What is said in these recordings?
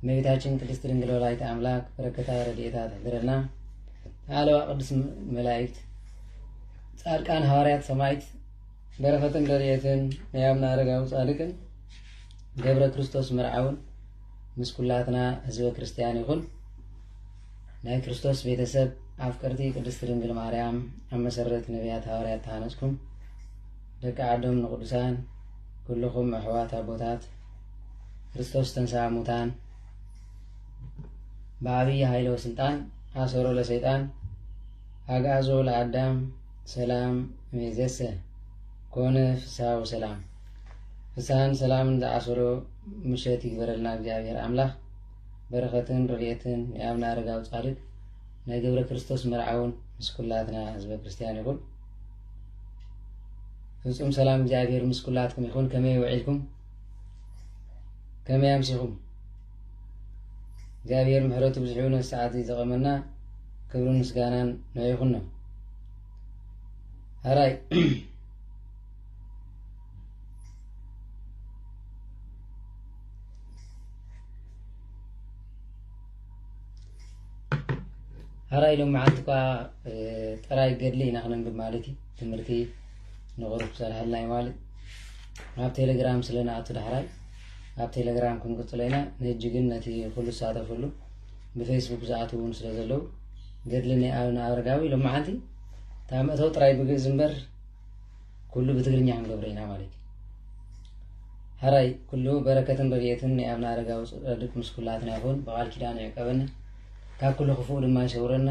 እመቤታችን ቅድስት ድንግል ወላዲተ ኣምላክ በረከታ ረድኤታ ትሕድረና። ኣለዋ ቅዱስ መላእክት፣ ጻድቃን፣ ሃዋርያት፣ ሰማይት በረከትን ረድኤትን ናይ ኣብና ኣረጋዊ ጻድቅን ገብረ ክርስቶስ መርዓውን ምስ ኩላትና ህዝበ ክርስቲያን ይኹን። ናይ ክርስቶስ ቤተሰብ ኣፍቀርቲ ቅድስት ድንግል ማርያም ኣብ መሰረት ነቢያት ሃዋርያት ተሃነጽኩም ደቂ ዓዶም ንቅዱሳን ኩልኹም ኣሕዋት ኣቦታት ክርስቶስ ተንሥኣ ሙታን በዓብይ ኃይለ ወሥልጣን ኣሰሮ ለሰይጣን ኣግኣዞ ለኣዳም ሰላም እምይእዜሰ ኮነ ፍስሓ ወሰላም ፍስሓን ሰላምን ዝዓሰሎ ምሸት ይግበረልና እግዚኣብሔር ኣምላኽ በረኸትን ረድኤትን ናይ ኣብነ ኣረጋዊ ጻድቅ ናይ ገብረ ክርስቶስ መርዓውን ምስ ኩላትና ህዝበ ክርስቲያን ይኹን ፍጹም ሰላም እግዚኣብሔር ምስ ኩላትኩም ይኹን ከመይ ውዒልኩም ከመይ ኣምሲኹም እግዚኣብሔር ምሕረቱ ብዝሕዩ ነዚ ሰዓት እዚ ዘቐመና ክብሪ ምስጋናን ናይ ይኹኖ ሃራይ ሃራይ ሎም መዓልቲ እኳ ጥራይ ገድሊ ኢና ክነንብብ ማለት እዩ ትምህርቲ ንቕሩብ ትሰርሐልና እዩ ማለት ኣብ ቴሌግራም ስለ ንኣቱ ዳሕራይ ኣብ ቴሌግራም ክንቅፅሎ ኢና ንህጂ ግን ነቲ ኩሉ ዝሳተፈሉ ብፌስቡክ ዝኣት እውን ስለ ዘለዉ ገድሊ ናይ ኣብነ ኣረጋዊ ሎመዓንቲ እታ መእተው ጥራይ ብግእዝ እምበር ኩሉ ብትግርኛ ክንገብረ ኢና ማለት እዩ ሐራይ ኩሉ በረከትን ረድኤትን ናይ ኣብነ ኣረጋዊ ፅድቅ ምስ ኩላትና ይኹን ብቃል ኪዳን ይዕቀበና ካብ ኩሉ ክፉእ ድማ ይሰውረና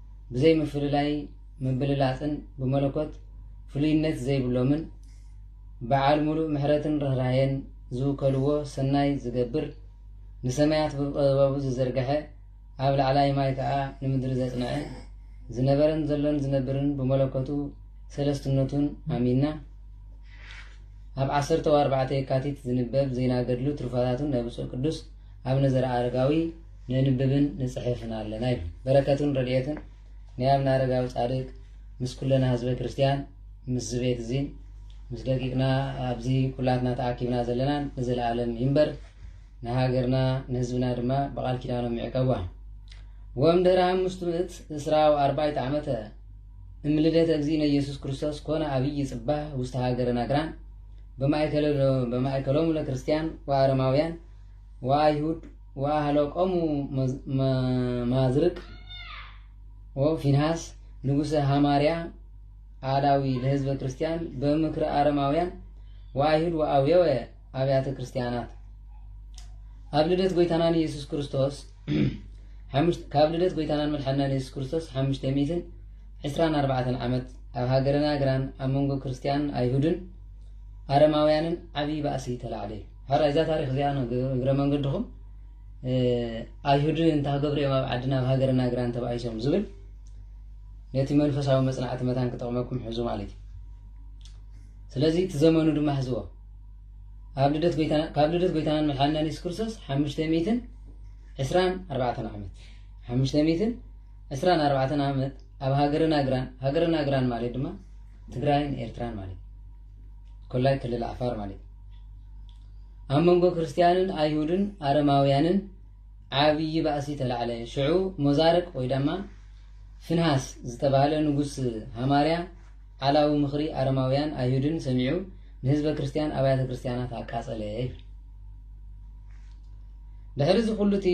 ብዘይ ምፍልላይ ምብልላጽን ብመለኮት ፍሉይነት ዘይብሎምን በዓል ሙሉእ ምሕረትን ርኅራኄን ዝውከልዎ ሰናይ ዝገብር ንሰማያት ብጥበቡ ዝዘርግሐ ኣብ ላዕላይ ማይ ከዓ ንምድሪ ዘጽንዐ ዝነበረን ዘሎን ዝነብርን ብመለኮቱ ሰለስትነቱን ኣሚንና ኣብ ዓሰርተ ኣርባዕተ የካቲት ዝንበብ ዜና ገድሉ ትሩፋታቱን ናይ ብፁዕ ቅዱስ ኣቡነ ዘርኣኣረጋዊ ነንብብን ንጽሕፍን ኣለና ይብል። በረከቱን ረድኤቱን ናይ ኣብነ ኣረጋዊ ጻድቅ ምስ ኩለና ህዝበ ክርስቲያን ምስዚ ቤት እዚን ምስ ደቂቅና ኣብዚ ኩላትና ተኣኪብና ዘለናን ንዘለኣለም ይንበር ንሃገርና ንህዝብና ድማ ብቓል ኪዳኖም ይዕቀቧ ወእምድኅረ አምስቱ ምእት እስራ ወአርባዕተ ዓመተ እምልደተ እግዚእነ ኢየሱስ ክርስቶስ ኮነ አብይ ጽባህ ውስተ ሃገረ ናግራን በማእከሎሙ ለክርስቲያን ወአረማውያን ወአይሁድ ወአህለቆሙ ማዝርቅ ወፊንሃስ ንጉሰ ሃማርያ አላዊ ለህዝበ ክርስቲያን በምክረ አረማውያን ወአይሁድ ወአውየወ አብያተ ክርስቲያናት ኣብ ልደት ጎይታናን ኢየሱስ ክርስቶስ ካብ ልደት ጎይታናን መድሓናን ኢየሱስ ክርስቶስ ሓሙሽተ ሚእትን ዕስራን ኣርባዕተን ዓመት ኣብ ሃገርና ግራን ኣብ መንጎ ክርስቲያንን ኣይሁድን ኣረማውያንን ዓብዪ ባእሲ ተላዕለ እዩ ሐራይ እዛ ታሪክ እዚኣ እግረ መንገድኩም ኣይሁድ እንታ ክገብሩ እዮም ኣብ ዓድና ኣብ ሃገርና እግራን ተባኢሶም ዝብል ነቲ መንፈሳዊ መጽናዕቲ መታን ክጠቕመኩም ሕዙ ማለት እዩ ስለዚ እቲ ዘመኑ ድማ ሕዝዎ ካብ ልደት ጎይታናን መድሓንናን የሱስ ክርስቶስ ሓሙሽተ ሚትን ዕስራን ኣርባዕተን ዓመት ሓሙሽተ ሚትን ዕስራን ኣርባዕተን ዓመት ኣብ ሃገርና ግራን ሃገርና ግራን ማለት ድማ ትግራይን ኤርትራን ማለት እዩ ኮላይ ክልል ዓፋር ማለት እዩ ኣብ መንጎ ክርስትያንን ኣይሁድን ኣረማውያንን ዓብዪ ባእሲ ተላዕለ ሽዑ ሞዛርቅ ወይ ድማ ፍንሃስ ዝተባህለ ንጉስ ሃማርያ ዓላዊ ምኽሪ ኣረማውያን ኣይሁድን ሰሚዑ ንህዝበ ክርስትያን ኣብያተ ክርስትያናት ኣቃጸለ ድሕሪ እዚ ኩሉ እቲ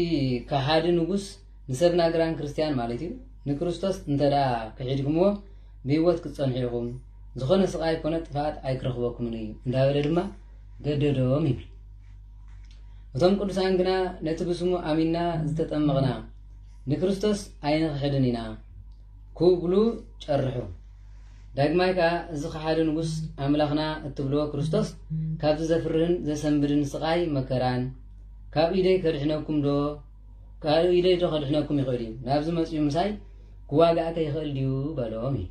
ከሓዲ ንጉስ ንሰብ ናግራን ክርስትያን ማለት እዩ ንክርስቶስ እንተ ደኣ ክሒድኩምዎ ብህይወት ክትጸንሑ ኢኹም፣ ዝኾነ ስቓይ ኮነ ጥፍኣት ኣይክረኽበኩምን እዩ እንዳበለ ድማ ገደዶም ይብል። እቶም ቅዱሳን ግና ነቲ ብስሙ ኣሚና ዝተጠመቕና ንክርስቶስ ኣይንኽሕድን ኢና ክብሉ ጨርሑ። ዳግማይ ከዓ እዚ ከሓዲ ንጉስ ኣምላኽና እትብልዎ ክርስቶስ ካብዚ ዘፍርህን ዘሰንብድን ስቓይ መከራን ካብ ኢደይ ከድሕነኩም ዶ ካልእ ኢደይዶ ከድሕነኩም ይኽእል እዩ፣ ናብዚ መጺኡ ምሳይ ክዋጋእከ ይኽእል ድዩ በሎም እዩ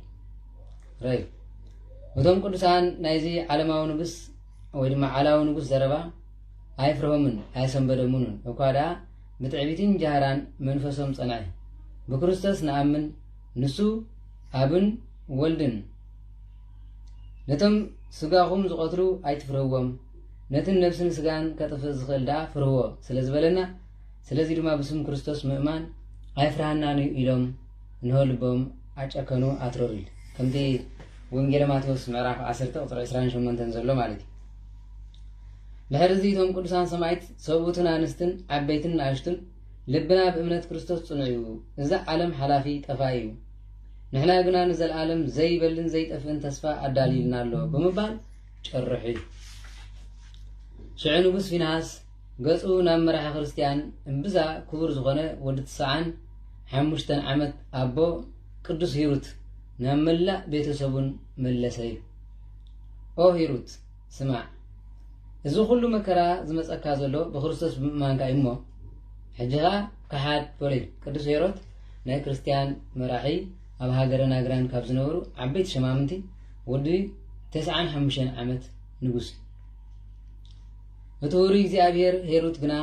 ረይ እቶም ቅዱሳን ናይዚ ዓለማዊ ንጉስ ወይ ድማ ዓላዊ ንጉስ ዘረባ ኣይፍርሆምን ኣየሰንበደሙንን እኳ ደኣ ብትዕቢትን ጃህራን መንፈሶም ጸንዐ ብክርስቶስ ንኣምን ንሱ ኣብን ወልድን ነቶም ስጋኹም ዝቐትሉ ኣይትፍርህዎም ነትን ነብስን ስጋን ከጥፍእ ዝኽእል ደኣ ፍርህዎ ስለ ዝበለና ስለዚ ድማ ብስም ክርስቶስ ምእማን ኣይፍርሃናን እዩ ኢሎም እንሆ ልቦም ኣጨከኑ ኣትረሩ ኢል ከምቲ ወንጌለ ማቴዎስ ምዕራፍ 10 ቁፅሪ 28 ዘሎ ማለት እዩ ድሕሪ እዚ እቶም ቅዱሳን ሰማይት ሰብኡትን ኣንስትን ዓበይትን ንኣሽቱን ልብና ብእምነት ክርስቶስ ጽኑዕ እዩ እዛ ዓለም ሓላፊ ጠፋ እዩ ንሕና ግና ንዘለኣለም ዘይበልን ዘይጠፍእን ተስፋ ኣዳልዩልና ኣሎ ብምባል ጭርሑ እዩ። ሽዑ ንጉስ ፊንሃስ ገጹ ናብ መራሒ ክርስትያን እምብዛ ክቡር ዝኾነ ወዲ ትስዓን ሓሙሽተን ዓመት ኣቦ ቅዱስ ሂሩት ናብ መላእ ቤተሰቡን መለሰ እዩ። ኦ ሂሩት ስማዕ እዚ ኩሉ መከራ ዝመፀካ ዘሎ ብክርስቶስ ብምእማንካ እዩ እሞ ሕጂኻ ከሓድ በሎ ቅዱስ ሄሮት ናይ ክርስትያን መራሒ ኣብ ሃገረ ናግራን ካብ ዝነበሩ ዓበይቲ ሸማምንቲ ወዲ ተስዓን ሓሙሽተን ዓመት ንጉስ እዩ። እቲ ውሩይ እግዚኣብሔር ሄሩት ግና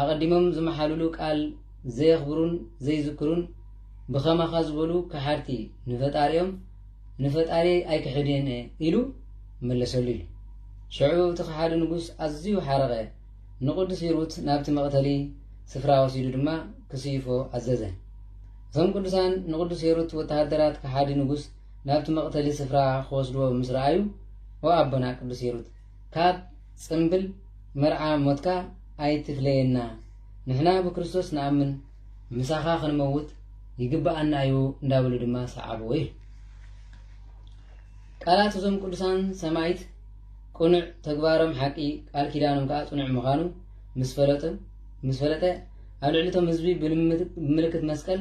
ኣቐዲሞም ዝመሓሉሉ ቃል ዘየኽብሩን ዘይዝክሩን ብኸማኻ ዝበሉ ከሓድቲ ንፈጣሪኦም ንፈጣሪየይ ኣይክሕድን እየ ኢሉ መለሰሉ ኢሉ። ሽዑ እቲ ከሓዲ ንጉስ ኣዝዩ ሓረቐ፣ ንቅዱስ ሂሩት ናብቲ መቕተሊ ስፍራ ወሲዱ ድማ ክስይፎ ኣዘዘ። እቶም ቅዱሳን ንቅዱስ ሄሩት ወተሃደራት ከሓዲ ንጉስ ናብቲ መቕተሊ ስፍራ ክወስድዎ ምስ ረኣዩ ኦ ኣቦና ቅዱስ ሂሩት ካብ ጽንብል መርዓ ሞትካ ኣይትፍለየና ንሕና ብክርስቶስ ንኣምን ምሳኻ ክንመውት ይግብኣና እዩ እንዳበሉ ድማ ሰዓብዎ ይብል ቃላት እዞም ቅዱሳን ሰማይት ቅኑዕ ተግባሮም ሓቂ ቃል ኪዳኖም ከዓ ጽኑዕ ምዃኑ ምስ ፈለጡ ምስ ፈለጠ ኣብ ልዕሊ እቶም ህዝቢ ብምልክት መስቀል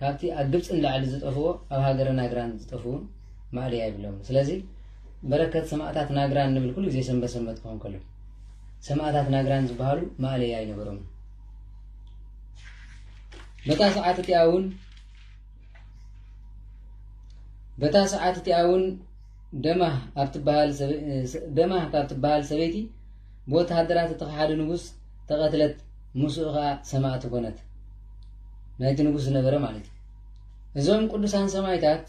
ካብቲ ኣብ ግብጺ ንላዕሊ ዝጠፍኡ ኣብ ሃገረ ናግራን ዝጠፍኡን ማእለያ የብሎምን። ስለዚ በረከት ሰማእታት ናግራን ንብል ኩሉ ግዜ ሰንበት ሰንበት ክኸውን ከሎ። ሰማእታት ናግራን ዝበሃሉ ማእለያ ኣይነበሮምን። በታ ሰዓት እቲኣ እውን በታ ሰዓት እቲኣ እውን ደማህ ኣብ ትበሃል ሰበ- እ- ስ- ደማህ ካብ ትበሃል ሰበይቲ ብወተሃደራት እቲ ከሓዲ ንጉስ ተቐትለት ምስኡ ኸኣ ሰማእቲ ኮነት ናይቲ ንጉስ ዝነበረ ማለት እዩ እዞም ቅዱሳን ሰማይታት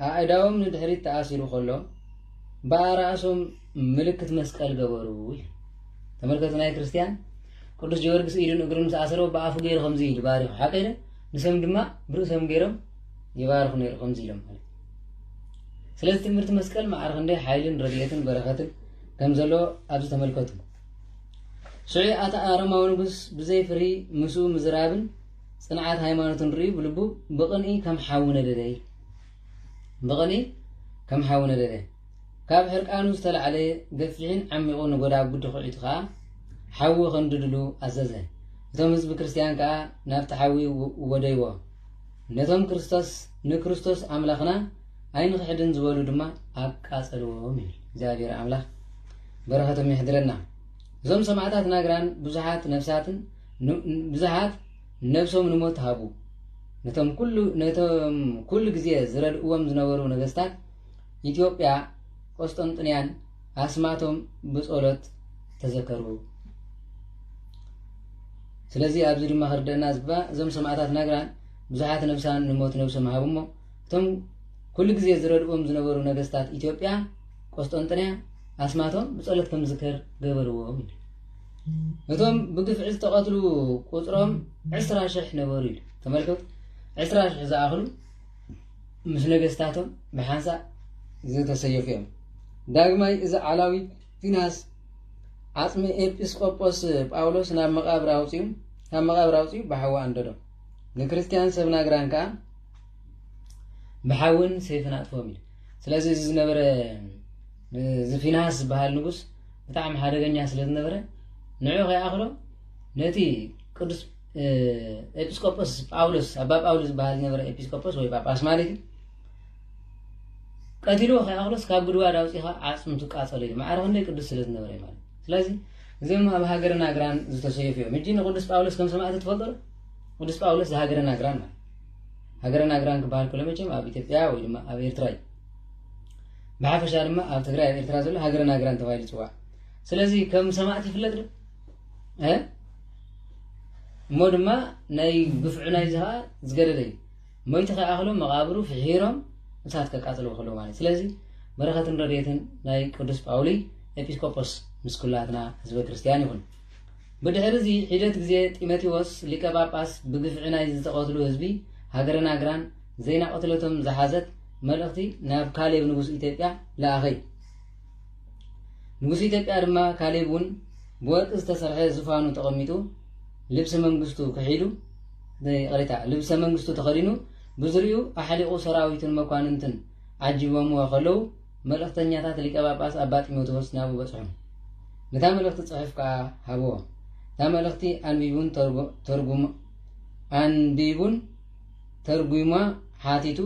ኣእዳዎም ንድሕሪት ተኣሲሩ ከሎ ብኣራእሶም ምልክት መስቀል ገበሩ እዩ ተመልከቱ ናይ ክርስትያን ቅዱስ ጀወርግስ ኢዱን እግሩን ምስ ኣሰሮ ብኣፉ ገይሩ ከምዚ ኢሉ ባሪኹ ሓቂ ኢለ ንሶም ድማ ብርእሶም ገይሮም ይባርኹ ነይሩ ከምዚ ኢሎም ማለት ስለዚ ትምህርቲ መስቀል መዓር ክንደይ ሓይልን ረድኤትን በረኸትን ከም ዘሎ ኣብዚ ተመልከቱ ሽዑ ኣቲ ኣረማዊ ንጉስ ብዘይ ፍርሂ ምስኡ ምዝራብን ጽንዓት ሃይማኖትን ርእዩ ብልቡ ብቕንኢ ከም ሓዊ ነደደ ብቕንኢ ከም ሓዊ ነደደ ካብ ሕርቃኑ ዝተላዕለ ገፊሕን ዓሚቑ ንጎዳጉዲ ኩዒቱ ከዓ ሓዊ ከንድድሉ ኣዘዘ እቶም ህዝቢ ክርስትያን ከዓ ናብቲ ሓዊ ወደይዎ ነቶም ክርስቶስ ንክርስቶስ ኣምላኽና ኣይንኽሕድን ዝበሉ ድማ ኣቃጸልዎም ይብል። እግዚኣብሔር ኣምላኽ በረኸቶም የሕድረና። እዞም ሰማዕታት ናግራን ብዙሓት ነፍሳትን ብዙሓት ነብሶም ንሞት ሃቡ። ነቶም ኩሉ ነቶም ኩሉ ግዜ ዝረድእዎም ዝነበሩ ነገስታት ኢትዮጵያ ቆስጠንጥንያን ኣስማቶም ብጸሎት ተዘከሩ። ስለዚ ኣብዚ ድማ ክርደና ዝግባ እዞም ሰማዕታት ናግራን ብዙሓት ነብሳን ንሞት ነብሶም ሃቡ እሞ እቶም ኩሉ ግዜ ዝረድኡዎም ዝነበሩ ነገስታት ኢትዮጵያ ቆስጦንጥንያ ኣስማቶም ብጸሎት ከም ዝከር ገበርዎም እቶም ብግፍዒ ዝተቐትሉ ቁፅሮም ዕስራ ሽሕ ነበሩ ኢሉ ተመልከቱ ዕስራ ሽሕ ዝኣኽሉ ምስ ነገስታቶም ብሓንሳእ ዝተሰየፉ እዮም ዳግማይ እዚ ዓላዊ ፊናስ ዓፅሚ ኤጲስቆጶስ ጳውሎስ ናብ መቃብር ኣውፅኡ ካብ መቃብር ኣውፅኡ ብሓዊ ኣንደዶ ንክርስትያን ሰብ ናግራን ከዓ ብሓውን ሰይፍን ኣጥፍኦም ኢሉ ስለዚ እዚ ዝነበረ እዚ ፊንሃስ ዝበሃል ንጉስ ብጣዕሚ ሓደገኛ ስለ ዝነበረ ንዑ ከይኣኽሎ ነቲ ቅዱስ ኤጲስቆጶስ ጳውሎስ ኣባ ጳውሎስ ዝበሃል ዝነበረ ኤጲስቆጶስ ወይ ጳጳስ ማለት እዩ ቀቲልዎ ከይኣኽሎስ ካብ ጉድጓድ ኣውፂኻ ዓፅምቱ ቃፀሎ ኢሉ ማዕረ ክንደይ ቅዱስ ስለ ዝነበረ ማለት ስለዚ እዚኦም ኣብ ሃገረ ናግራን ዝተሰየፉ እዮም። ሕጂ ንቅዱስ ጳውሎስ ከም ሰማዕቲ ትፈልጦ ዶ? ቅዱስ ጳውሎስ ዝሃገረ ናግራን ማለት ሃገረ ናግራን ክበሃል ከሎ መቸም ኣብ ኢትዮጵያ ወይ ድማ ኣብ ኤርትራ እዩ። ብሓፈሻ ድማ ኣብ ትግራይ ኣብ ኤርትራ ዘሎ ሃገረ ናግራን ተባሂሉ ይፅዋዕ። ስለዚ ከም ሰማዕቲ ይፍለጥ ዶ? እሞ ድማ ናይ ግፍዑ ናይዚ ከዓ ዝገደደ እዩ። ሞይቱ ከይኣኽሎም መቓብሩ ፍሒሮም እሳት ከቃጽልዎ ከለዉ ማለት ስለዚ በረኸትን ረድኤትን ናይ ቅዱስ ጳውሊ ኤጲስቆጶስ ምስ ኩላትና ህዝበ ክርስቲያን ይኹን። ብድሕሪ እዚ ሒደት ግዜ ጢሞቴዎስ ሊቀ ጳጳስ ብግፍዒ ናይ ዝተቐትሉ ህዝቢ ሃገረ ናግራን ዜና ቅትለቶም ዝሓዘት መልእኽቲ ናብ ካሌብ ንጉስ ኢትዮጵያ ለኣኸይ ንጉስ ኢትዮጵያ ድማ ካሌብ እውን ብወርቂ ዝተሰርሐ ዝፋኑ ተቐሚጡ ልብሲ መንግስቱ ክሒዱ ይቕሬታ ልብሰ መንግስቱ ተኸዲኑ ብዙርይኡ ኣሕሊቑ ሰራዊቱን መኳንንትን ዓጂቦምዎ ከለዉ መልእኽተኛታት ሊቀ ጳጳስ ኣባ ጢሞቴዎስ ናብኡ በጽሑ። ነታ መልእኽቲ ጽሑፍ ከኣ ሃብዎ። እታ መልእኽቲ ኣንቢቡን ተርጉም ኣንቢቡን ተርጒማ ሓቲቱ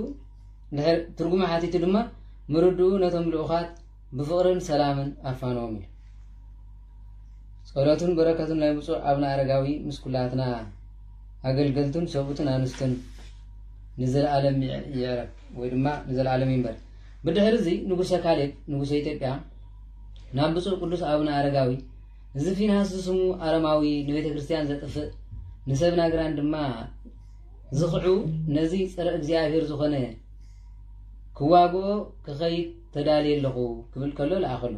ትርጉማ ሓቲቱ ድማ ምርድኡ ነቶም ልኡኻት ብፍቕርን ሰላምን ኣፋንዎም ኢሉ። ጸሎቱን በረከቱን ናይ ብፁዕ ኣብነ ኣረጋዊ ምስ ኩላትና ኣገልገልቱን ሰብኡትን ኣንስቱን ንዘለኣለም ይዕረብ ወይ ድማ ንዘለኣለም ይንበር። ብድሕሪ እዚ ንጉሰ ካሌብ ንጉሰ ኢትዮጵያ ናብ ብፁዕ ቅዱስ ኣብነ ኣረጋዊ እዚ ፊንሃስ ዝስሙ ኣረማዊ ንቤተ ክርስቲያን ዘጥፍእ ንሰብ ናግራን ድማ ዝኽዑ ነዚ ፀረ እግዚኣብሔር ዝኾነ ክዋግኦ ክኸይድ ተዳልየ ኣለኹ ክብል ከሎ ለኣኸሉ።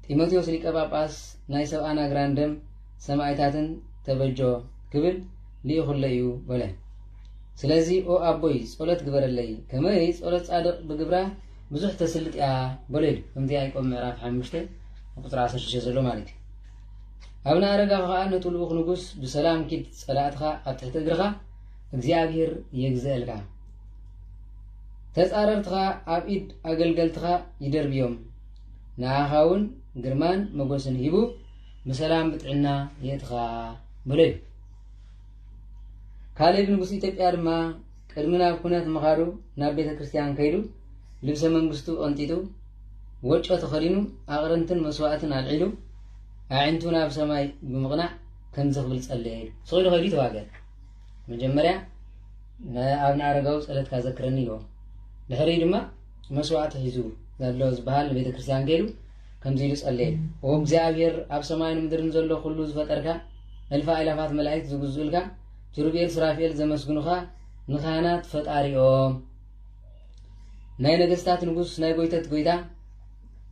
ጢሞቴዎስ ሊቀ ጳጳስ ናይ ሰብኣን ኣግራን ደም ሰማይታትን ተበጆ ክብል ልኢኹለ እዩ በለ። ስለዚ ኦ ኣቦይ ጸሎት ግበረለይ ከመይ ጸሎት ጻድቕ ብግብራ ብዙሕ ተስልጥ እያ በሎ ኢሉ ከምቲ ያዕቆብ ምዕራፍ ሓሙሽተ ቁፅሪ ዓሰርተ ሽዱሽተ ዘሎ ማለት እዩ። ኣብነ ኣረጋ ከዓ ነቲ ልኡኽ ንጉስ ብሰላም ኪድ ጸላእትኻ ኣብ ትሕቲ እግርኻ እግዚኣብሔር የግዘአልካ ተጻረርትኻ ኣብ ኢድ ኣገልገልትኻ ይደርብዮም፣ ንኣኻውን ግርማን መጎስን ሂቡ ብሰላም ብጥዕና የእትኻ በሎ እዩ። ካሌብ ንጉስ ኢትዮጵያ ድማ ቅድሚ ናብ ኩነት ምኻዱ ናብ ቤተ ክርስቲያን ከይዱ ልብሰ መንግስቱ ቐንጢጡ ወጮ ተኸዲኑ ኣቕርንትን መስዋእትን ኣልዒሉ ኣዒንቱ ናብ ሰማይ ብምቕናዕ ከምዚ ክብል ጸለየ ኢሉ ስቂሉ ከይዱ ተዋገ መጀመርያ ንኣብነ ኣረጋዊ ጸለትካ ዘክረኒ ኢልዎ ድሕሪኡ ድማ መስዋእቲ ሒዙ ዘሎ ዝበሃል ንቤተ ክርስቲያን ከይዱ ከምዚ ኢሉ ጸለየ ኦ እግዚኣብሔር ኣብ ሰማይን ምድርን ዘሎ ኩሉ ዝፈጠርካ እልፋ ኣእላፋት መላእክት ዝግዝኡልካ ኪሩቤል ስራፊኤል ዘመስግኑኻ ንኻህናት ፈጣሪኦም ናይ ነገስታት ንጉስ ናይ ጎይተት ጎይታ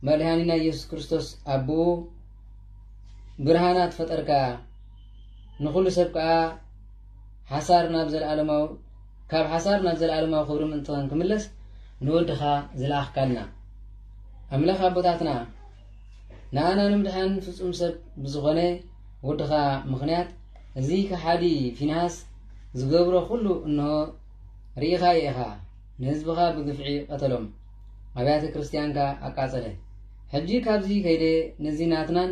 መድሃኒና ኢየሱስ ክርስቶስ ኣቦኡ ብርሃናት ፈጠርካ ንኹሉ ሰብ ከዓ ሓሳር ናብ ዘልኣለማዊ ካብ ሓሳር ናብ ዘልኣለማዊ ክብሪ ምእንትኸን ክምለስ ንወድኻ ዝለኣኽካልና ኣምላኽ ኣቦታትና ንኣና ንምድሓን ፍጹም ሰብ ብዝኾነ ወድኻ ምኽንያት እዚ ከሓዲ ፊንሃስ ዝገብሮ ኩሉ እንሆ ርኢኻዮ ኢኻ ንህዝብኻ ብግፍዒ ቀተሎም ኣብያተ ክርስትያንካ ኣቃጸለ ሕጂ ካብዚ ከይደ ነዚ ናትናን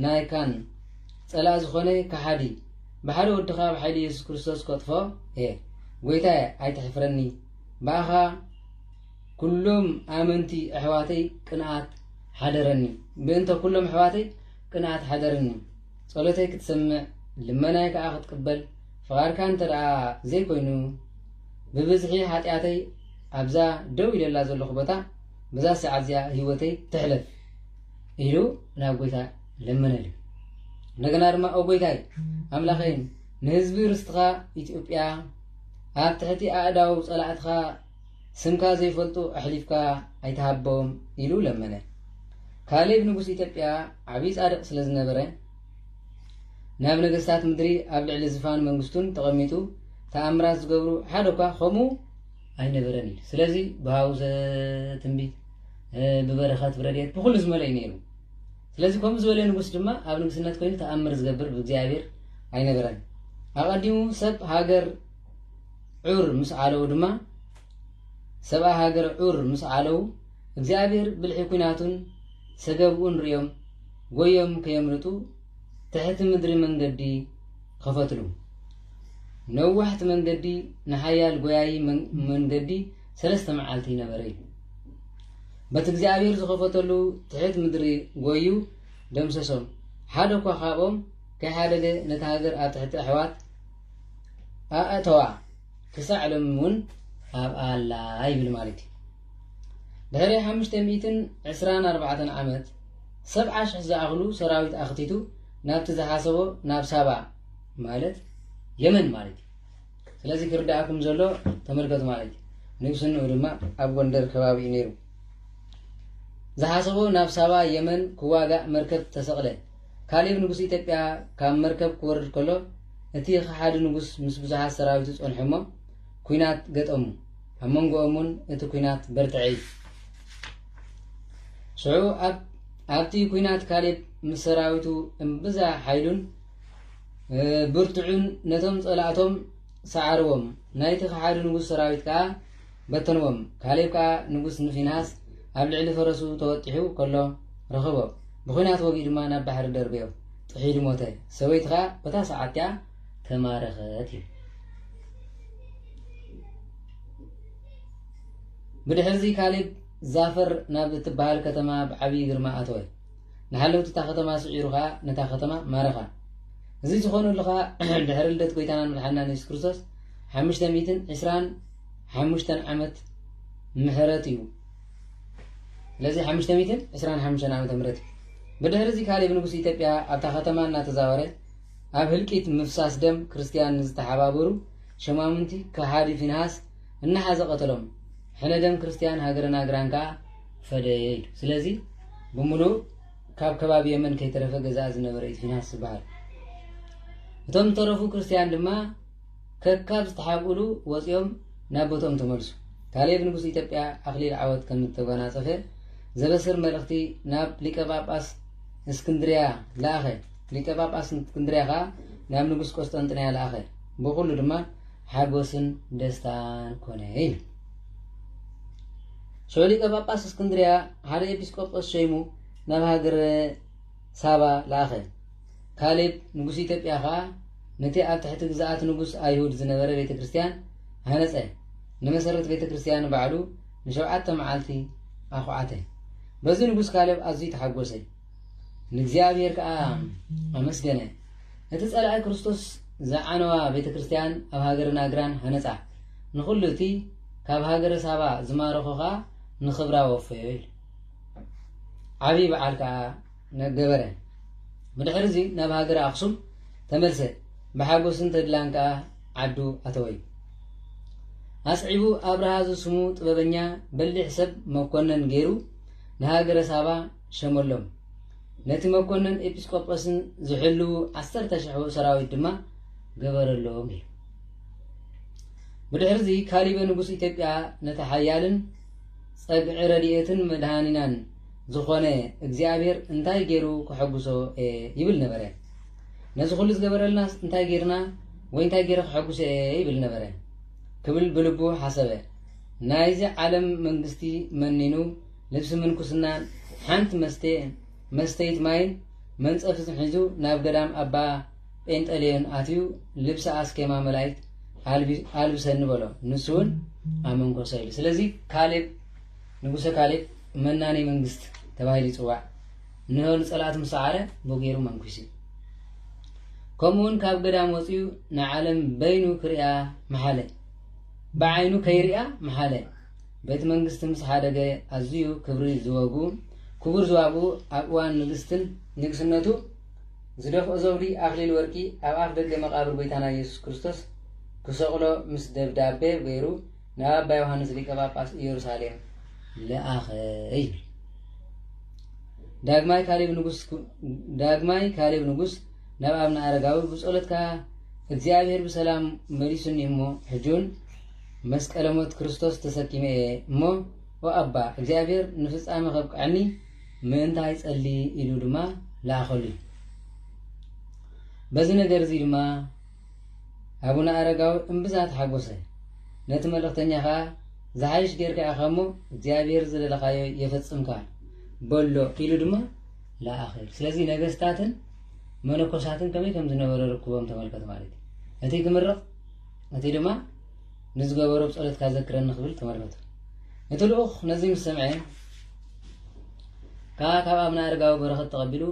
ናይካን ጸላእ ዝኾነ ከሓዲ ብሓደ ወድኻ ብሓይሊ የሱስ ክርስቶስ ከጥፎ እየ ጎይታየ ኣይተሕፍረኒ ብኣኻ ኩሎም ኣመንቲ ኣሕዋተይ ቅንኣት ሓደረኒ ብእንተ ኩሎም ኣሕዋተይ ቅንኣት ሓደረኒ ጸሎተይ ክትሰምዕ ልመናይ ከዓ ክትቅበል ፍቓድካ እንተ ደኣ ዘይኮይኑ ብብዝሒ ሓጢኣተይ ኣብዛ ደው ኢለላ ዘለኹ ቦታ በዛ ሰዓት እዚኣ ህይወተይ ትሕለፍ ኢሉ ናብ ጎይታ ለምነሉ እንደገና ድማ ኦ ጎይታይ ኣምላኸይ ንህዝቢ ርስትኻ ኢትዮጵያ ኣብ ትሕቲ ኣእዳው ጸላእትኻ ስምካ ዘይፈልጡ ኣሕሊፍካ ኣይትሃቦም ኢሉ ለመነ ካሌብ ንጉስ ኢትዮጵያ ዓብዪ ጻድቕ ስለ ዝነበረ ናብ ነገስታት ምድሪ ኣብ ልዕሊ ዝፋን መንግስቱን ተቐሚጡ ተኣምራት ዝገብሩ ሓደ እኳ ከምኡ ኣይነበረን እዩ ስለዚ ብሃውዘ ትንቢት ብበረኸት ብረድኤት ብኩሉ ዝመለእ እዩ ነይሩ ስለዚ ከምኡ ዝበለ ንጉስ ድማ ኣብ ንግስነት ኮይኑ ተኣምር ዝገብር ብእግዚኣብሔር ኣይነበረን። ኣቐዲሙ ሰብ ሃገር ዑር ምስ ዓለው ድማ ሰብኣ ሃገር ዑር ምስ ዓለው እግዚኣብሔር ብልሒ ኩናቱን ሰገብኡን ርዮም ጎዮም ከየምልጡ ትሕቲ ምድሪ መንገዲ ኸፈትሉ ነዋሕቲ መንገዲ ንሓያል ጎያይ መንገዲ ሰለስተ መዓልቲ ነበረ እዩ በቲ እግዚኣብሄር ዝኸፈተሉ ትሕት ምድሪ ጎዩ ደምሰሶም። ሓደ እኳ ካብኦም ከይሓደገ ነታ ሃገር ኣብ ትሕቲ ኣሕዋት ኣእተዋ፣ ክሳዕ ሎሚ እውን ኣብኣ ኣላ ይብል ማለት እዩ። ድሕሪ ሓሙሽተ ሚእትን ዕስራን ኣርባዕተን ዓመት ሰብዓ ሽሕ ዝኣኽሉ ሰራዊት ኣኽቲቱ ናብቲ ዝሓሰቦ ናብ ሳባ ማለት የመን ማለት እዩ ስለዚ ክርደኣኩም ዘሎ ተመልከቱ ማለት እዩ ንግስንኡ ድማ ኣብ ጎንደር ከባቢ እዩ ነይሩ ዝሓሰቦ ናብ ሳባ የመን ክዋጋእ መርከብ ተሰቕለ ካሌብ ንጉስ ኢትዮጵያ ካብ መርከብ ክወርድ ከሎ እቲ ከሓዲ ንጉስ ምስ ብዙሓት ሰራዊቱ ጸንሑ እሞ ኩናት ገጠሙ ኣብ መንጎኦም እውን እቲ ኩናት በርትዐ እዩ ሽዑ ኣብቲ ኩናት ካሌብ ምስ ሰራዊቱ እምብዛ ሓይሉን ብርትዑን ነቶም ጸላእቶም ሰዓርዎም፣ ናይቲ ኸሓዲ ንጉስ ሰራዊት ከኣ በተንዎም። ካሌብ ከኣ ንጉስ ንፊንሃስ ኣብ ልዕሊ ፈረሱ ተወጢሑ ከሎ ረኸቦ፣ ብዂናት ወጊኡ ድማ ናብ ባሕሪ ደርበዮ፣ ጥሒሉ ሞተ፣ ሰበይቱ ኸኣ በታ ሰዓት እቲኣ ተማረኸት እዩ። ብድሕርዚ ካሌብ ዛፈር ናብ እትበሃል ከተማ ብዓብዪ ግርማ ኣተወ። ንሃለውቲ እታ ከተማ ስዒሩ ኸኣ ነታ ከተማ ማረኻ። እዚ ዝኾነሉ ኸኣ ድሕሪ ልደት ጐይታናን መድሓኒናን የሱስ ክርስቶስ ሓሙሽተ ሚእትን ዕስራን ሓሙሽተን ዓመት ምሕረት እዩ። ስለዚ ሓሙሽተ ሚእትን ዕስራን ሓሙሽተን ዓመተ ምሕረት እዩ። ብድሕሪ እዚ ካሌብ ንጉስ ኢትዮጵያ ኣብታ ከተማ እናተዛወረ ኣብ ህልቂት ምፍሳስ ደም ክርስትያን ንዝተሓባበሩ ሸማሙንቲ ከሓዲ ፊንሃስ እናሓዘ ቀተሎም። ሕነ ደም ክርስትያን ሃገረ ናግራን ከኣ ፈደየ ኢሉ። ስለዚ ብምሉኡ ካብ ከባቢ የመን ከይተረፈ ገዛኢ ዝነበረ እዩ ፊናስ ዝበሃል። እቶም ዝተረፉ ክርስትያን ድማ ከካብ ዝተሓብኡሉ ወፂኦም ናብ ቦትኦም ተመልሱ። ካሌብ ንጉስ ኢትዮጵያ ኣኽሊል ዓወት ከም እተጓናፀፈ ዘበስር መልእኽቲ ናብ ሊቀ ጳጳስ እስክንድርያ ለኣኸ። ሊቀ ጳጳስ እስክንድርያ ከዓ ናብ ንጉስ ቆስጠንጥንያ ለኣኸ። ብኹሉ ድማ ሓጎስን ደስታን ኮነ ኢሉ። ሽዑ ሊቀ ጳጳስ እስክንድርያ ሓደ ኤጲስቆጶስ ሸይሙ ናብ ሃገረ ሳባ ለኣኸ። ካሌብ ንጉስ ኢትዮጵያ ኸዓ ነቲ ኣብ ትሕቲ ግዝኣት ንጉስ ኣይሁድ ዝነበረ ቤተ ክርስቲያን ሃነጸ። ንመሰረት ቤተ ክርስቲያን ባዕሉ ንሸውዓተ መዓልቲ ኣኹዓተ። በዚ ንጉስ ካሌብ ኣዝዩ ተሓጎሰ። ንእግዚኣብሔር ከኣ ኣመስገነ። እቲ ጸላኢ ክርስቶስ ዝዓነዋ ቤተ ክርስቲያን ኣብ ሃገረ ናግራን ሃነጻ። ንኹሉ እቲ ካብ ሃገረ ሳባ ዝማረኾ ከኣ ንኽብራ ወፈዮ ኢሉ። ዓብዪ በዓል ከኣ ነገበረ። ብድሕሪ እዚ ናብ ሃገረ ኣኽሱም ተመልሰ። ብሓጎስን ተድላን ከኣ ዓዱ ኣተወዩ። ኣስዒቡ ኣብርሃ ዝስሙ ጥበበኛ በሊሕ ሰብ መኮነን ገይሩ ንሃገረ ሳባ ሸመሎም። ነቲ መኰንን ኤጲስቆጶስን ዚሕልዉ ዓሰርተ ሽሕ ሰራዊት ድማ ገበረሎም ኢሉ። ብድሕርዚ ካሊበ ንጉስ ኢትዮጵያ ነቲ ሓያልን ጸግዒ ረድኤትን መድኃኒናን ዝኾነ እግዚኣብሔር እንታይ ገይሩ ከሐጉሶ እየ ይብል ነበረ። ነዚ ኹሉ ዝገበረልናስ እንታይ ጌርና ወይ እንታይ ጌረ ከሐጉሶ እየ ይብል ነበረ። ክብል ብልቡ ሓሰበ። ናይዚ ዓለም መንግስቲ መኒኑ ልብሲ ምንኩስናን ሓንቲ መስትየእን መስተይት ማይን መንጸፍዝን ሒዙ ናብ ገዳም ኣባ ጴንጠሌዮን ኣትዩ ልብሲ ኣስኬማ መላይት ኣልብሰኒ በሎ። ንሱውን ኣመንኮሰ ኢሉ። ስለዚ ካሌብ ንጉሰ ካሌብ መናኔ መንግስት ተባሂሉ ይጽዋዕ። እንሆ ንጸላእቱ ምስ ሰዓረ ብኡ ገይሩ መንኩሱ እዩ። ከምኡውን ካብ ገዳም ወጽኡ ንዓለም በይኑ ክሪኣ መሓለ። ብዓይኑ ከይሪኣ መሓለ። ቤት መንግስቲ ምስ ሓደገ ኣዝዩ ክብሪ ዝወጉ ክቡር ዝዋብኡ ኣብ እዋን ንግስትን ንግስነቱ ዝደፍኦ ዘውዲ ኣኽሊል ወርቂ ኣብ ኣፍ ደገ መቓብር ጎይታና ኢየሱስ ክርስቶስ ክሰቕሎ ምስ ደብዳቤ ገይሩ ናብ ኣባ ዮሃንስ ሊቀ ጳጳስ ኢየሩሳሌም ለኣኸ ይብል። ዳግማይ ካሌብ ንጉስ ዳግማይ ካሌብ ንጉስ ናብ ኣብነ ኣረጋዊ ብጸሎትካ እግዚኣብሔር ብሰላም መሊሱኒ እሞ ሕጁን መስቀለ ሞት ክርስቶስ ተሰኪመ እየ እሞ ኦ ኣባ እግዚኣብሔር ንፍጻመ ከብቅዐኒ ምእንታይ ጸሊ ኢሉ ድማ ለኣኸሉ እዩ። በዚ ነገር እዚ ድማ ኣቡነ ኣረጋዊ እምብዛ ተሓጎሰ። ነቲ መልእኽተኛ ከዓ ዝሓይሽ ጌርካ ኢኻ እሞ እግዚኣብሔር ዝደለኻዮ የፈጽምካ በሎ ኢሉ ድማ ለኣኸ። ስለዚ ነገስታትን መነኮሳትን ከመይ ከም ዝነበረ ርክቦም ተመልከት ማለት እዩ እቲ ክምርቕ ነቲ ድማ ንዝገበሮ ብጸሎትካ ዘክረኒ ክብል ተመርነቱ እቲ ልኡኽ ነዚ ምስ ሰምዐ ከዓ ካብ ኣብነ ኣረጋዊ በረኸት ተቐቢሉ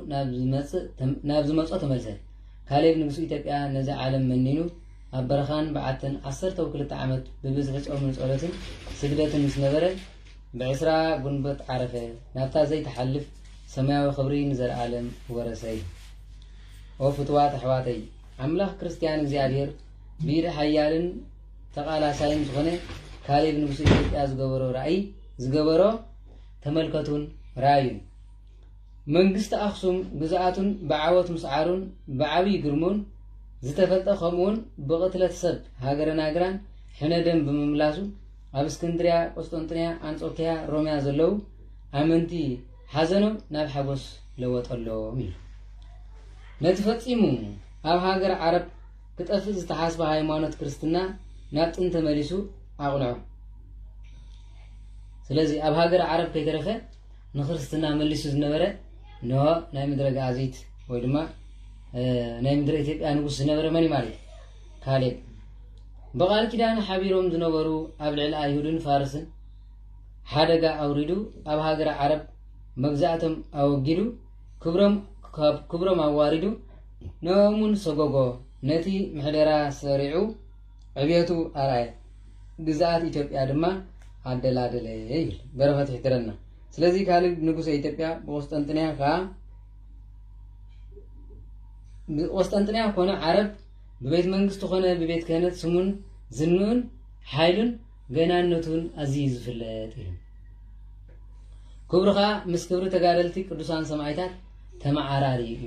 ናብ ዝመጾ ተመልሰ ካሌብ ንጉስ ኢትዮጵያ ነዚ ዓለም መኒኑ ኣብ በረኻን በዓትን ዓሰርተ ክልተ ዓመት ብብዝሒ ጾምን ጸሎትን ስግደትን ምስ ነበረ ብዕስራ ጉንበት ዓረፈ ናብታ ዘይትሓልፍ ሰማያዊ ክብሪ ንዘለኣለም ወረሰይ ኦ ፍትዋት ኣሕዋተይ ኣምላኽ ክርስትያን እግዚኣብሔር ሜሪ ሓያልን ተቓላሳይን ዝኾነ ካሌብ ንጉሰ ኢትዮጵያ ዝገበሮ ራእይ ዝገበሮ ተመልከቱን ራዩን። መንግስቲ ኣክሱም ግዝኣቱን ብዓወት ምስዓሩን ብዓብይ ግርምኡን ዝተፈልጠ ከምኡውን ብቕትለት ሰብ ሃገረ ናግራን ሕነ ደም ብምምላሱ ኣብ እስክንድርያ፣ ቆስጠንጥንያ፣ ኣንጾኪያ፣ ሮምያ ዘለዉ ኣመንቲ ሓዘኖም ናብ ሓጎስ ለወጠሎም ኢሉ ነቲ ፈጺሙ ኣብ ሃገር ዓረብ ክጠፍእ ዝተሓስበ ሃይማኖት ክርስትና ናብ ጥን ተመሊሱ ኣቕንዖ። ስለዚ ኣብ ሃገር ዓረብ ከይተረፈ ንክርስትና መሊሱ ዝነበረ ን ናይ ምድረ ገኣዚት ወይ ድማ ናይ ምድረ ኢትዮጵያ ንጉስ ዝነበረ መን እዩ ማለት ካሌብ ብቃል ኪዳን ሓቢሮም ዝነበሩ ኣብ ልዕሊ ኣይሁድን ፋርስን ሓደጋ ኣውሪዱ ኣብ ሃገረ ዓረብ መግዛእቶም ኣወጊዱ ክብሮም ኣዋሪዱ ነሙን ሰጎጎ ነቲ ምሕደራ ሰሪዑ ዕብየቱ ኣርኣየ፣ ግዝኣት ኢትዮጵያ ድማ ኣደላደለ ይብል በረኸት ይሕድረና። ስለዚ ካልድ ንጉሰ ኢትዮጵያ ብቁስጠንጥንያ ከኣ ብቁስጠንጥንያ ኮነ ዓረብ ብቤት መንግስቲ ኮነ ብቤት ክህነት ስሙን ዝንኡን ሓይሉን ገናነቱ ውን ኣዚዩ ዝፍለጥ ኢዩ። ክብሩ ከኣ ምስ ክብሪ ተጋደልቲ ቅዱሳን ሰማኢታት ተመዓራሪ ኢዩ።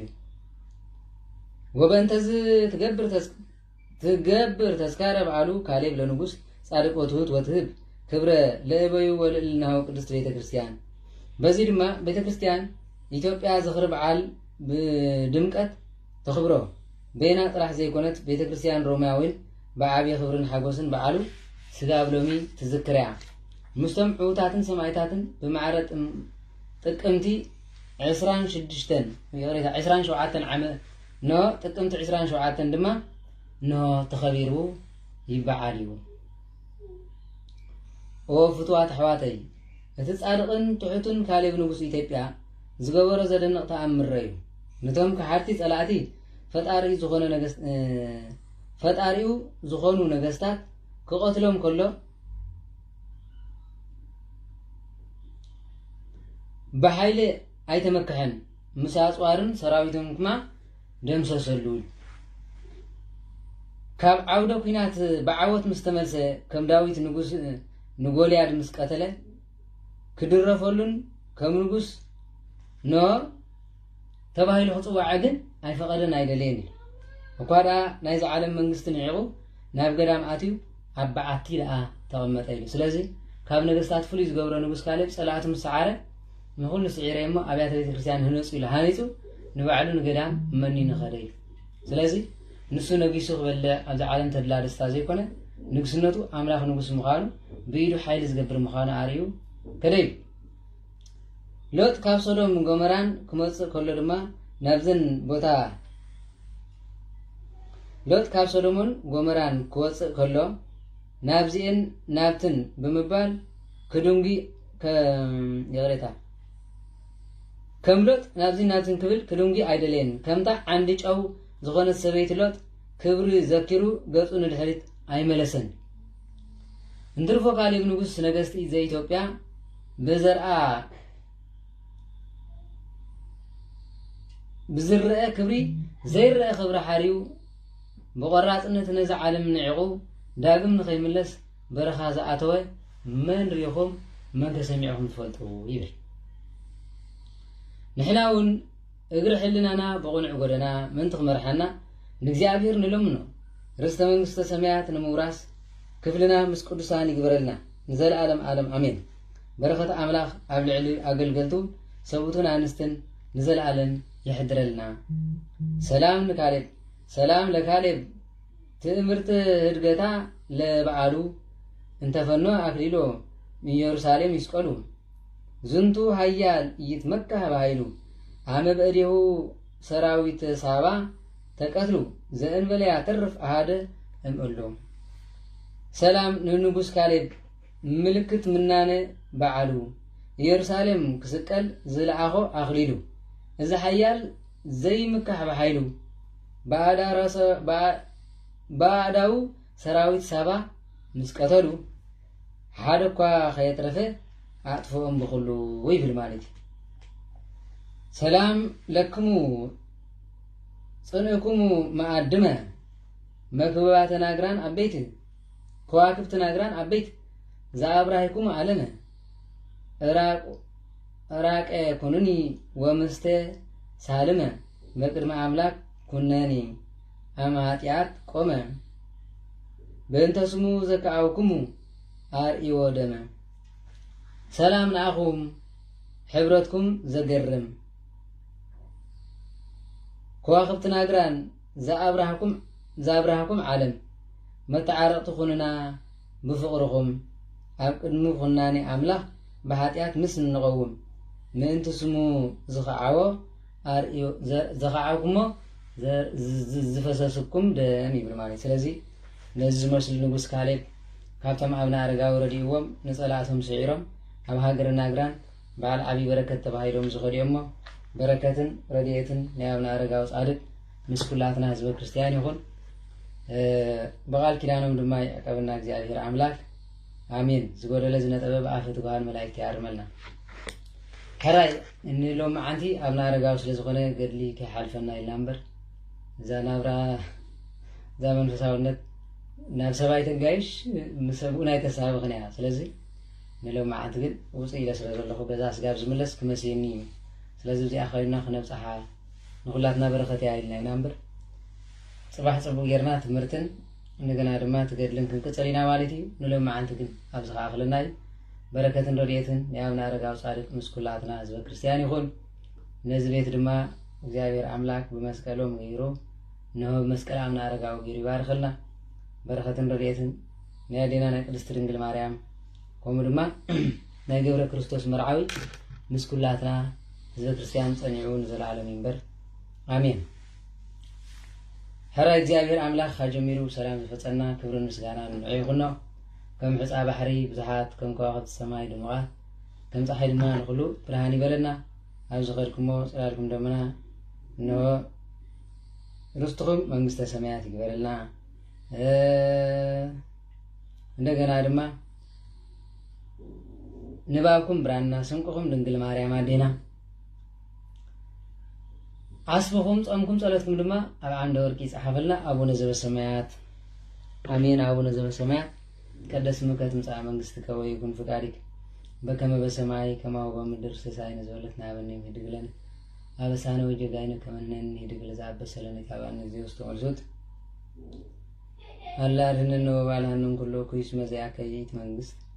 ወበእንተ እዚ ትገብር ትገብር ተስካረ በዓሉ ካሌብ ለንጉስ ጻድቅ ወትሁት ወትህብ ክብረ ለእበዩ ወልእልናሁ ቅድስት ቤተ ክርስቲያን። በዚ ድማ ቤተ ክርስቲያን ኢትዮጵያ ዝኽሪ በዓል ብድምቀት ተኽብሮ። በይና ጥራሕ ዘይኮነት ቤተ ክርስትያን ሮሜያ እውን ብዓብዪ ክብርን ሓጎስን በዓሉ ስጋብ ሎሚ ትዝክር እያ። ምስቶም ዕውታትን ሰማኢታትን ብማዕረ ጥቅምቲ ዕስራን ሽዱሽተን ይቕሬታ ዕስራን ሸውዓተን ዓመ ኖ ጥቅምቲ ዕስራን ሸውዓተን ድማ ንሆ ተኸቢሩ ይበዓል እዩ። ኦ ፍትዋት ኣሕዋተይ እቲ ጻድቕን ትሑትን ካሌብ ንጉስ ኢትዮጵያ ዝገበሮ ዘደንቕ ተኣምር'ዩ። ንቶም ከሓድቲ ጸላእቲ ፈጣሪኡ ዝኾነ ነገስ ፈጣሪኡ ዝኾኑ ነገስታት ክቐትሎም ከሎ ብሓይሊ ኣይተመክሐን፣ ምስ ኣጽዋርን ሰራዊቶም ክማ ደምሰሰሉ። ካብ ዓውደ ኲናት ብዓወት ምስ ተመልሰ ከም ዳዊት ንጉስ ንጎልያድ ምስ ቀተለ ክድረፈሉን ከም ንጉስ ን ተባሂሉ ክጽዋዐ ግን ኣይፈቐደን ኣይደለየን ኢሉ። እኳ ደኣ ናይዚ ዓለም መንግስቲ ንዒቑ ናብ ገዳም ኣትዩ ኣብ በዓቲ ደኣ ተቐመጠ ኢሉ። ስለዚ ካብ ነገስታት ፍሉይ ዝገብሮ ንጉስ ካሌብ ጸላእቱ ምስ ሰዓረ ንኹሉ ስዒረ እሞ ኣብያተ ቤተ ክርስቲያን ህነጹ ኢሉ ሃኒጹ ንባዕሉ ንገዳም መኒኑ ኸደ እዩ ስለዚ ንሱ ነጊሱ ክበልዕ ኣብዚ ዓለም ተድላ ደስታ ዘይኮነ ንግስነቱ ኣምላኽ ንጉስ ምዃኑ ብኢዱ ሓይሊ ዝገብር ምዃኑ ኣርእዩ ከደ ኢሉ። ሎጥ ካብ ሶዶምን ጎመራን ክመጽእ ከሎ ድማ ናብዘን ቦታ ሎጥ ካብ ሶዶምን ጎመራን ክወጽእ ከሎ ናብዚኤን ናብትን ብምባል ክድንጒ ይቕሬታ ከም ሎጥ ናብዚ ናብትን ክብል ክድንጉ ኣይደለየን ከምታ ዓንዲ ጨው ዝኾነት ሰበይቲ ሎጥ ክብሪ ዘኪሩ ገጹ ንድሕሪት ኣይመለሰን እንትርፎ ካሌብ ንጉስ ነገስቲ ዘኢትዮጵያ ብዘርኣ ብዝረአ ክብሪ ዘይረአ ክብሪ ሓርዩ ብቆራፅነት ነዚ ዓለም ንዒቑ ዳግም ንኸይምለስ በረኻ ዝኣተወ መን ሪኢኹም መን ተሰሚዕኹም ትፈልጡ ይብል ንሕና እውን እግሪ ሕልናና ብቕኑዕ ጎደና ምእንቲ ክመርሓና ንእግዚኣብሔር ንለምኖ። ርስተ መንግስተ ሰማያት ንምውራስ ክፍልና ምስ ቅዱሳን ይግበረልና ንዘለዓለም ዓለም ኣሜን። በረኸት ኣምላኽ ኣብ ልዕሊ ኣገልገልቱ ሰብኡትን ኣንስትን ንዘለዓለም የሕድረልና። ሰላም ንካሌብ ሰላም ለካሌብ ትእምርት ህድገታ ለበዓሉ እንተፈኖ ኣክሊሎ ኢየሩሳሌም ይስቀሉ። ዝንቱ ኃያል ኢይትመካህ በኃይሉ አመ በእዴሁ ሠራዊተ ሳባ ተቀትሉ ዘእንበለ ያተርፍ አሐደ እምእሉ። ሰላም ንንጉሥ ካሌብ ምልክት ምናነ በዓሉ ኢየሩሳሌም ክስቀል ዝለኣኾ ኣኽሊሉ እዚ ሓያል ዘይምካሕ ብሓይሉ ብኣእዳው ሰራዊት ሳባ ምስ ቀተሉ ሓደ እኳ ከየትረፈ ኣጥፍኦም ብኹሉ ይብል ማለት እዩ። ሰላም ለክሙ ጽንእኩሙ መኣድመ መክብባተ ናግራን ኣበይት ከዋክብቲ ናግራን ኣበይት ዘኣብራሂኩሙ ኣለመ እራቀ ኩኑኒ ወምስተ ሳልመ መቅድሚ ኣምላክ ኩነኔ እም ኃጢኣት ቆመ በእንተ ስሙ ዘከኣውክሙ ኣርእዮ ደመ ሰላም ንኣኹም ሕብረትኩም ዘገርም ከዋኽብቲ ናግራን ዘኣብራህኩም ዘኣብራህኩም ዓለም መተዓረቕቲ ኩንና ብፍቕርኹም ኣብ ቅድሚ ኩናኔ ኣምላኽ ብኃጢኣት ምስ እንቐውም ምእንቲ ስሙ ዝኸዓዎ ኣርእዮ ዘዘኻዓኩሞ ዘዝፈሰስኩም ደም ይብል ማለት ስለዚ ነዚ ዝመስሉ ንጉስ ካሌብ ካብቶም ኣብነ ኣረጋዊ ረድእዎም ንጸላእቶም ስዒሮም ኣብ ሃገረ ናግራን በዓል ዓብዪ በረከት ተባሂሎም ዝኸዱ እሞ በረከትን ረድኤትን ናይ ኣብነ ኣረጋዊ ጻድቅ ምስ ኩላትና ህዝበ ክርስቲያን ይኹን ብቃል ኪዳኖም ድማ ይዕቀብና እግዚኣብሔር ኣምላክ ኣሜን ዝጎደለ ዝነጠበ ብኣፈ ትጉሃን መላእክት ይኣርመልና ሕራይ እኒ ሎምዓንቲ ኣብና ኣረጋዊ ስለ ዝኾነ ገድሊ ከይሓልፈና ኢልና እምበር እዛ ናብራ እዛ መንፈሳውነት ናብ ሰብኣይ ተጋይሽ ምስ ሰብኡን ኣይተሳብኽን እያ ስለዚ ንሎምዓንቲ ግን ውፅእ ኢለ ስለ ዘለኹ በዛ ስጋብ ዝምለስ ክመስየኒ እዩ ስለዚ እዚኣ ኮይና ክነብፅሓ ንኩላትና በረኸት እያ ኢልና ኢና እምበር ፅባሕ ፅቡቅ ጌርና ትምህርትን እንደገና ድማ እቲ ገድልን ክንቅፅል ኢና ማለት እዩ ንሎም መዓንቲ ግን ኣብዚ ከኣክለና እዩ በረከትን ረድኤትን ናይ ኣብነ ኣረጋዊ ፃድቅ ምስ ኩላትና ህዝበ ክርስትያን ይኹን ነዚ ቤት ድማ እግዚኣብሔር ኣምላክ ብመስቀሎም ገይሩ እነሆ ብመስቀል ኣብነ ኣረጋዊ ገይሩ ይባርኸልና በረከትን ረድኤትን ናይ ኣዴና ናይ ቅድስቲ ድንግል ማርያም ከምኡ ድማ ናይ ገብረ ክርስቶስ መርዓዊ ምስ ኩላትና ህዝበ ክርስትያን ፀኒዑ ንዘለዓለም ይንበር ኣሜን ሕራይ እግዚኣብሔር ኣምላኽ ኣጀሚሩ ብሰላም ዘፈጸና ክብርን ምስጋናን ንዑ ይኹኖ ከም ሕፃ ባሕሪ ብዙሓት ከም ከዋኽብቲ ሰማይ ድሙቓት ከም ፀሓይ ድማ ንኹሉ ብርሃን ይበለና ኣብ ዝኸድኩሞ ጽላልኩም ደመና እንሆ ርስትኹም መንግስተ ሰማያት ይግበረልና እንደገና ድማ ንባብኩም ብራና ስንቅኹም ድንግል ማርያም ኣዴና ዓስብኹም ጾምኩም ጸሎትኩም ድማ ኣብ ዓንደ ወርቂ ይጽሓፈልና ኣቡነ ዘበሰማያት ኣሜን ኣቡነ ዘበሰማያት ቀደስ ስምከ ትምጻእ መንግስትከ ወይኩን ፍቃድክ በከመ በሰማይ ከማሁ በምድር ሲሳይነ ዘበለትነ ሀበነ ዮም ህድግ ለነ አበሳነ ወጌጋይነ ከመ ንሕነኒ ህድግ ለዘአበሰ ለነ ኢታብአነ እግዚኦ ውስተ መልሱት አላ አድኅነነ ወባልሐነ እምኩሉ እኩይ እስመ ዚአከ ይእቲ መንግስት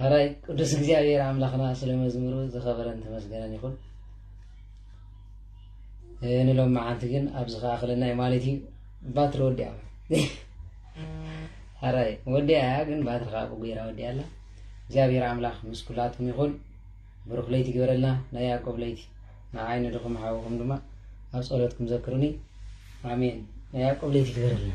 ሐራይ ቅዱስ እግዚኣብሔር ኣምላኽና ስለ መዝሙሩ ዝኸበረን ተመስገነን ይኹን ንሎም መዓንቲ ግን ኣብዚ ከኣክለናይ ማለት እዩ ባትሪ ወዲኣ ሕራይ ወዲኣ እያ ግን ባትሪ ከዓ ብጉራ ወዲኣ ኣላ እግዚኣብሔር ኣምላኽ ምስ ኩላትኩም ይኹን ብሩኽ ለይቲ ግበረልና ናይ ያዕቆብ ለይቲ ንዓይ ንድኹም ሓውኹም ድማ ኣብ ጸሎትኩም ዘክሩኒ ኣሜን ናይ ያዕቆብ ለይቲ ግበረልና